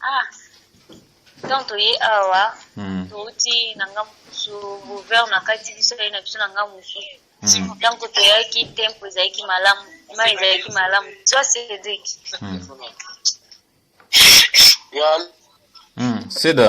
Ah, donc toye awa hmm. touti na nga mosusu gouverne akati biso ye na biso na nga mosusu ntango hmm. toyaki tempo ezalaki malamu mai ezalaki malamu zwa cedrik hmm. seda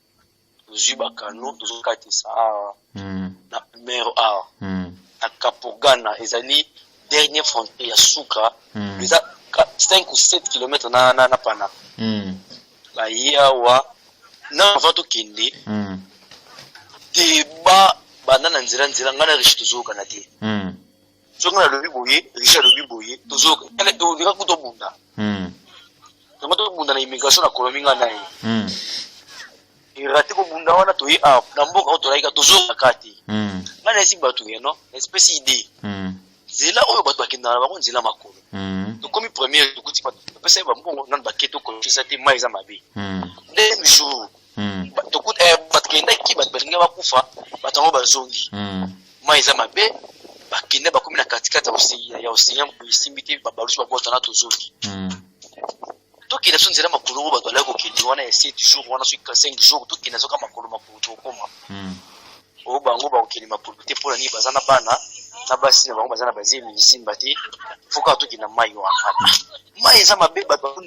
tozwi bakano tozokatisa awa hmm. na numero awa hmm. na kapogana ezali dernier frontier ya suka hmm. eza 5 ou 7 km na, na, na pana baye awa na avant tokende deba banda na nzela nzela ngai na riche tozokana te soki nga nalobi boye richard alobi boye tozoyoka tala ondeka kutu obunda hmm. yango tobunda na immigration na colomi nga na ye hmm. erate kobunda wana toye awa na mboka oyo tolayika tozongaka te hmm. nga nayesi bato ya no na espèce idée nzela oyo bato bakendaka na bango nzela makolo tokomi première tokuti bato bapesa ye bambongo nano bake tokolokisa te mai eza mabe nde jour hmm. bato kuta eh, bato kendaki bato balingi bakufa bato yango bazongi hmm. mai eza mabe bakende bakomi na katikati ya ocean boye esimbi te babalusu babota na tozongi hmm. tokenda so nzela makolo ngo bato balaki kokende wana ya 7 jour wana soki 5 jour tokenda soka makolo makolo tokokoma oyo bango bakokende makolo te mpo na nini baza na bana na basi na bango baza na bazemi lisimba te fo kaka tokenda mai wana mai eza mabe bato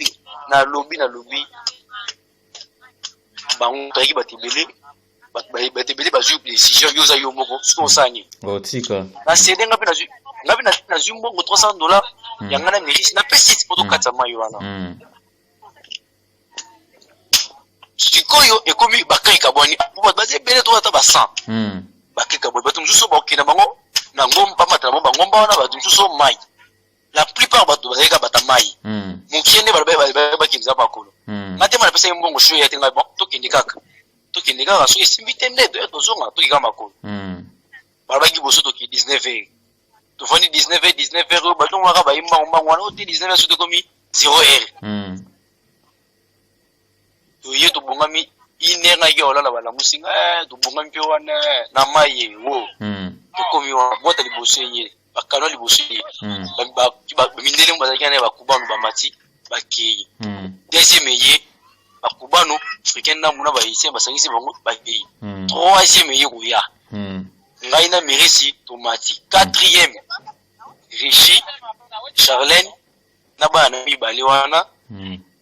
na lobi na lobi bango bayaki bato ebele bato ebele bazwi decision yo oza yo moko soki osala nini otika na sede nga mpe nazwi nga mpe nazwi mbongo 300 dollar hmm. ya nga na mairie napesi ti mpo tokatisa hmm. mai wana hmm. sikoyo ekomi bakai kabwani po bato baza ebele to ata ba 100 bakai kabwani bato mosusu bakokenda bango na ngomba bamata na bango bangomba wana bato mosusu mai la plupart bato bazali kaka bata mai mokie nde bakendisa makolo nga te mana pesaki mbongo sho ya te ngai bon tokende kaka tokende kaka soki esimbi te nde toya tozonga toki kaka makolo balobaki liboso toki 19 heure tofandi 19 heure 19 heure oyo batongo kaka bayi mbango mbango wana oyo te 19 heure soki ekomi 0 heure toye tobongami une heure nayaki olala balamusi nga eh, tobongami mpe wana eh, na mai ye wo hmm. tokomi wana bota liboso ye bakano liboso ye hmm. mindele mo bazalaki naye bakubano bamati bakei hmm. deuxième eye bakubano africain na muna bahaïtien basangisi bango bakei troisième eye koya ngai na merisi tomati quatrième richi charlene na bana na mibale wana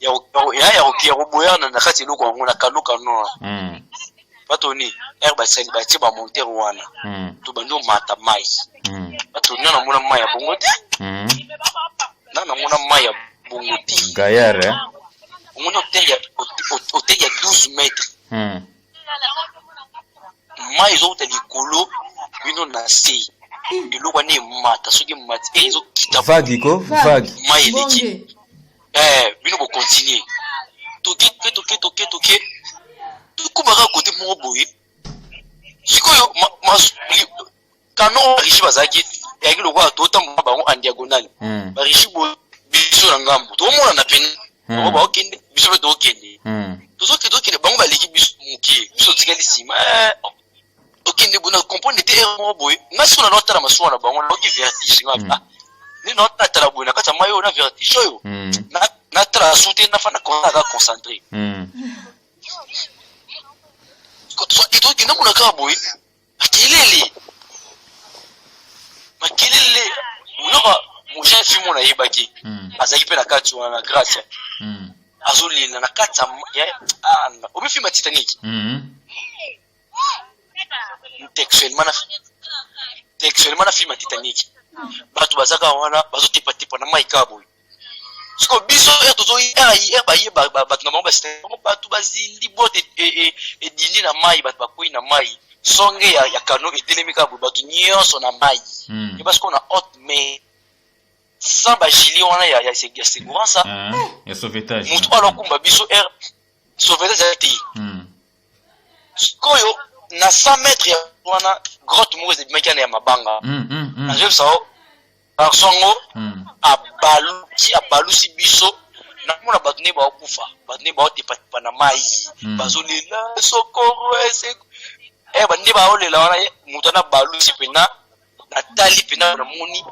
ya koboyana na kati eloko yango na kano kano hmm. batoni ere basali batie bamontere wana hmm. to bandi omata mai hmm. batoni na namona mai ya bongo te na namona mai ya bongo te gayare eh? omoni hotele ya 12 mètre mai ezouta likolo bino na se eloko wana emata soki emati eh, ezokita vagi ko vagi mai eleki eh bino bo continuer toke toke toke toke toke tokomaka kote moko boye sikoyo kano barishi bazalaki eyaki lokola totambola bango en diagonale hmm. barishi boye biso na ngambo tokomonana pene hmm. bango baokende biso mpe tokokende hmm. tozokende tokende bango baleki biso moke biso otikali nsima eh, tokende boye na comprendre te heure moko boye nga siko na naotala masuwa na bango naoki vertige nga mm. ah, nde naotala boye na kati ya mai oyo na vertige oyo mm. natala su te nafanda konsa aza concentré mm. tokende mona kaka boye makelele makelele monaka mojeune fille mona ayebaki azalaki mpe na kati wana na grace azolela na kati ya ah, obi filme ya titanic mhm. textuellement na textuellement na filme ya titanic bato bazaka wana bazotepatepa na mai kaka boye siko biso ere tozoyi ere ere baye bato na bango basita bango bato bazindi bote e, e, edindi na mai bato bakwei na mai songe ya, ya kano etelemi kaka boye bato nyonso na mai mm. eba sikoyo na haute mai sans ba gilet wana ya ya ya segurance ah, ya sauvetage mutu ala kumba biso air sauvetage ya te hmm. sikoyo na 100 mètres ya wana grotte moko ezebimaki ana ya mabanga hmm, hmm, nazobisa o garçon ngo abalusi abalusi biso namona bato nde baokufa bato nde baotepatepa na mai bazolela sokoro ese eh, bande baolela wana moto wana balusi mpena natali mpena namoni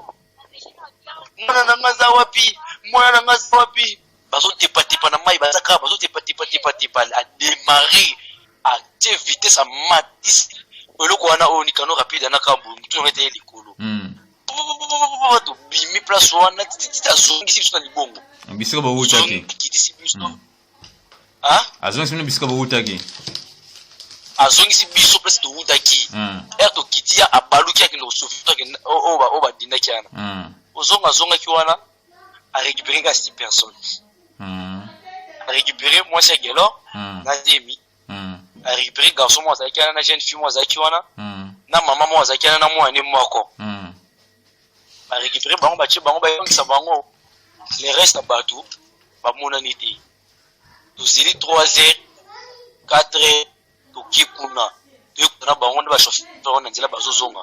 mwana na nga aza wapi mwana na nga aza wapi bazotepatepa na mai baza kaka bazotepatepatepatepa ademare atie vitesse amatisi eloko wana oyo nikano rapide anaka motu yango ete ye likolo hmm. tobimi place wana tititi azongisi biso na libongo bisika bawutaki kitisi biso hmm. Hein? Azongisi bino bisika bowutaki. Azongisi biso place towutaki. Mm. Ere tokiti ya abaluki ya kende kosofi oyo badindaki wana. Mm. Ozonga azongaki wana a récupérer kasi personne. Mm. A récupérer mwasi ya Gelor mm. na Demi. mm. récupéré garçon moko azalaki wana na jeune fille moko azalaki wana mm. na mama moko azalaki wana na mwana ne moko mm. barécupéré bango batie bango bayongisa bango le reste ya bato bamonani te tozeli 3 heures 4 heures toke kuna toyekuna bango nde bachauffeur na nzela bazozonga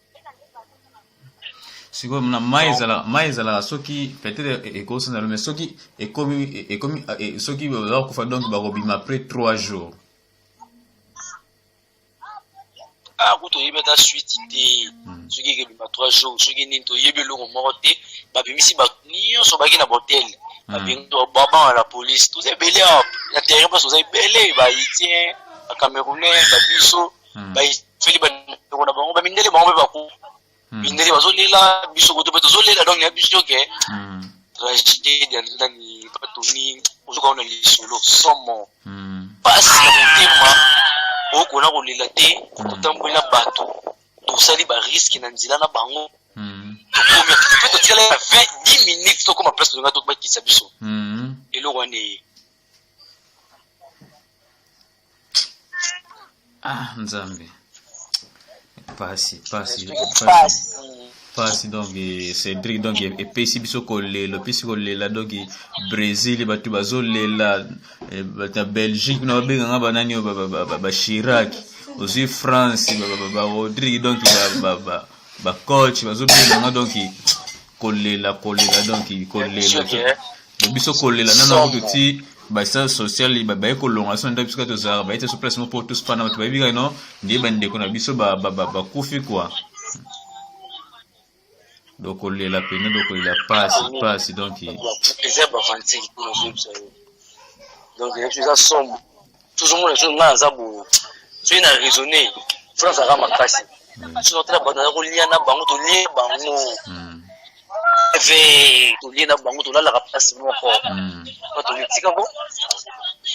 sikoyo na mai ezalaka mai ezalaka soki peut-être e, ekosana lo mais soki ekomi e, ekomi e, soki oza kokufa donc bakobima après trois jours ah, kutu oyebi ata suite te hmm. soki ekebima trois jours soki nini toyebi eloko moko te babimisi bato nyonso baki na botel hmm. babengi babanga na police toza ebele awa na terrain mposo toza ebele bahaitien bacamerounais babiso hmm. bayifeli bandeko na bango bamindele bango mpe baku hmm. mindele bazolela biso koto mpe tozolela donc ya biso ke hmm. tragédie ya nani batoni ozoka ona lisolo somo mpasi ya motema okona kolela te kotamboli na bato tosali bariske na nzela na bango tokomi mpe totikala ya 20 10 minutes tokoma place tolinga tokobakisa biso eloko wana eye ah nzambe pasi pasi pasi pasi donc cédric donc epesi biso kolela epesi kolela donc brésil bato bazolela eh, bato ya belgique kuna babenganga banani oyo bashiraki ozwi france barodrigue donc ba coach bazo benda nga donc kolela kolela donc kolela biso kolela nana kutu ti basal social baye kolonga so nda biso kaka tozalaka baye te so place moko po tosepana bato bayebi kaka no nde bandeko na biso bakufi kua donc kolela pene donc kolela pasi pasi donc eza bavantir donc eza sombo tozomona so ngai aza bo soki na raisonne france aza makasi soki otala bato naza kolia na bango tolie bango ve tolie na bango tolalaka place moko bato mitika ko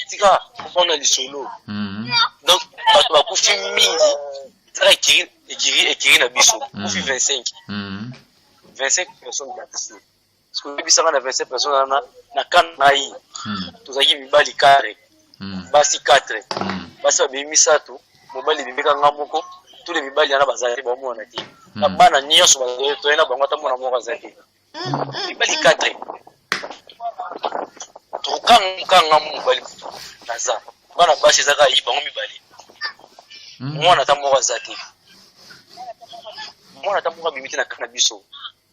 tika komona lisolo donc bato bakufi mingi ezaka ekiri ekiri ekiri na biso kufi 25 25 personnes bakisi soki oyebisa nga na 27 personne wana na kan na ye hmm. tozalaki mibali 4 hmm. basi 4 hmm. basi babimi misato mobali ebimeka nga moko tule mibali wana bazalaki bamona te na bana nyonso toye na bango ata mwana moko aza te mibali 4 tokanga mobali naza bana basi eza kaka yi bango mibali mwana ata moko aza te mwana ata moko abimi te na kan na biso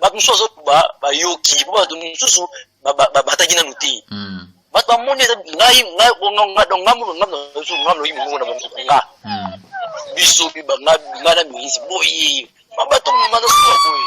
bato mosusu azo bayoki po bato mosusu babataki nanu te hmm. bato bamoni eza ngai ngamloyi mongongo na bango nga hmm. biso nga na mirise boye bato mazosoa boye